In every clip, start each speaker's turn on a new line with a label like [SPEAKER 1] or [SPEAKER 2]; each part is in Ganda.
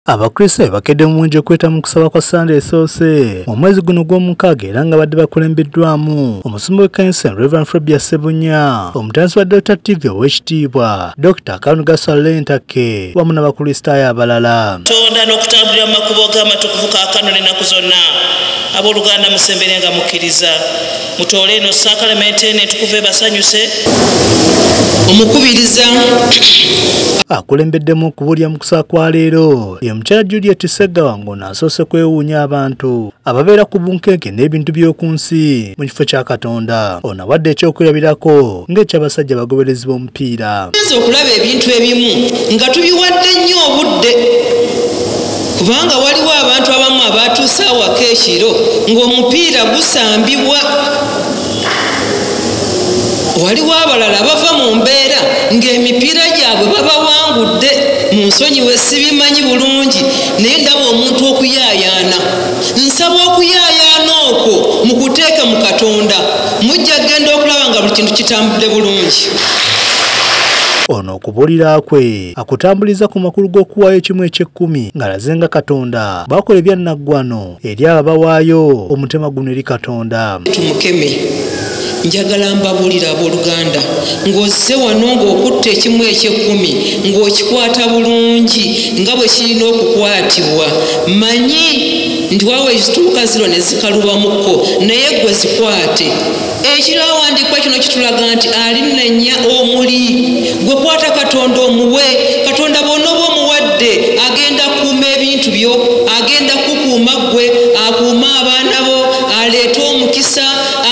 [SPEAKER 1] Abakristaayo bakedde mu bungi okuyita mu kusaba kwa Ssande esoose mu mwezi guno gw'omukaaga era nga badde bakulembeddwamu omusumba w'ekkanisa eno Rev. Frebia Ssebunya, omutandisi wa Delta TV ow'ekitiibwa Dr. Kanuga Saleh Ntakke wamu n'Abakristaayo abalala. Tonda n'okutambulira
[SPEAKER 2] mu makubo ge amatukuvu kaakano n'ennaku zonna, abooluganda musemberenga mukkiriza. mutoole eno sakalamenti eno etukuva ebasanyuse omukubiriza akulembeddemu
[SPEAKER 1] okubulya mu kusa kwa leero ye mukyala juliet segawa ng'ono asoose kwewuunya abantu ababeera ku bunkenke n'ebintu by'oku nsi mu kifo kya katonda ono awadde ekyokwirabirako ng'ekyabasajja bagoberezi b'omu piira nze okulaba ebintu
[SPEAKER 3] ebimu nga tubiwadde nnyo obudde kubanga waliwo abantu abamu abatuuse awaka ekiro ng'omupiira gusambibwa waliwo abalala bava mu mbeera ng'emipiira gyabwe babawangudde mu nsonyi we sibimanyi bulungi naye ndaba omuntu okuyaayaana nsaba okuyaayaana okwo mu kuteeka mu katonda mujja kugenda okulaba nga buli kintu kitambudde bulungi
[SPEAKER 1] ono okubuulira kwe akutambuliza ku makulu g'okuwaayo ekimu eky'ekkumi ng'alaze nga katonda baakola ebyannaggwano eri abo abawaayo omutima guno eri katonda tumukeme
[SPEAKER 3] njagala mbabuulira abooluganda ng'ozze wano ng'okutta ekimu eky'ekkumi ng'okikwata bulungi nga bwe kirina okukwatibwa manyi nti waawo ekituuka ziro ne zikalubamuko naye gwe zikwate ekiro awandiikwa kino kitulaga nti alinenya omuli gwe kwata katonda omuwe katonda bwona oba omuwadde agenda kuuma ebintu byo agenda kukuuma ggwe akuuma abaana bo aleete omukisa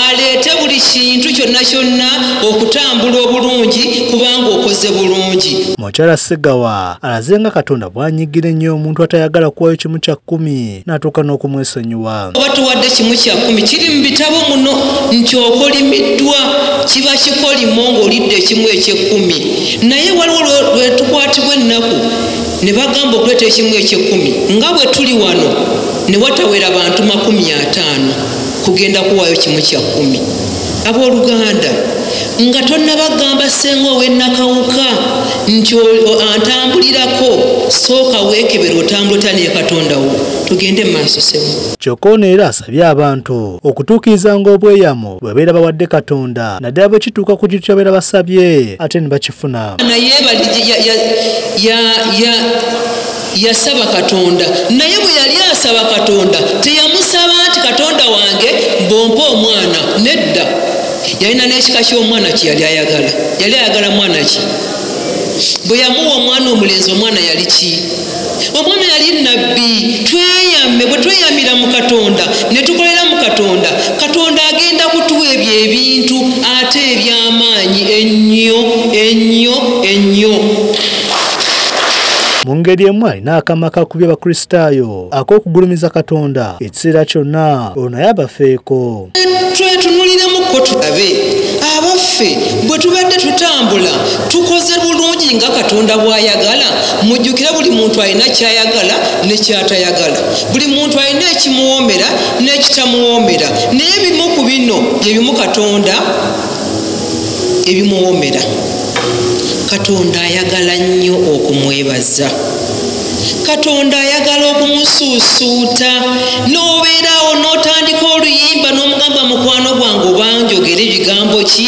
[SPEAKER 3] aleete buli kintu kyonna kyonna okutambula obulungi kubanga okoze bulungi mukyala sigawa
[SPEAKER 1] alaze nga katonda bwanyigira ennyo omuntu atayagala kuwayo kimu kya kkumi n'atuuka n'okumwesonyiwa oba tuwadde kimu
[SPEAKER 3] kya kkumi kiri mu bitabo muno nti okolimiddwa kiba kikolimo ng'olidde ekimu ekyekkumi naye waliwo lwe tukwatibwa ennaku ne bagamba okuleeta ekimu ekyekkumi nga bwe tuli wano ne watawera bantu makumi ataano kugenda kuwaayo kimu kya kkumi abooluganda nga tonnabagamba ssenga ow'ennakawuka nti antambulirako sooka weekebera otambula otya naye katonda wo tugende mu maaso sebo kyokka ono era
[SPEAKER 1] asabye abantu okutuukirizanga obweyamo bwe beera bawadde katonda naddala bwe kituuka ku kintu kyabeera basabye ate ne bakifuna naye
[SPEAKER 3] yasaba katonda naye bwe yali asaba katonda teyamusaba nti katonda wange mbompa omwana nedda yalina n'ekika ky'omwana kye yali ayagala yali ayagala mwana ki bwe yamuwa omwana omulenzi omwana yali ki omwana yali nabbi tweyame bwe tweyamira mu katonda ne tukolera mu katonda katonda agenda kutuwa ebyo ebintu ate eby'amaanyi ennyo ennyo ennyo
[SPEAKER 1] mu ngeri emu alina akama kakubya abakristaayo ak'okugulumiza katonda ekiseera kyonna olwo naye abafeeko twetunuliramuko
[SPEAKER 3] tulabe abaffe bwe tubadde tutambula tukoze bulungi nga katonda bw'ayagala mujjukira buli muntu alina ky'ayagala ne ky'atayagala buli muntu alina ekimuwoomera n'ekitamuwoomera naye bimu ku bino bye bimu katonda ebimuwoomera katonda ayagala nnyo okumwebaza katonda ayagala okumusuusuuta n'obeeraawo n'otandika oluyimba n'omugamba mukwano gwange obanjogera ebigambo ki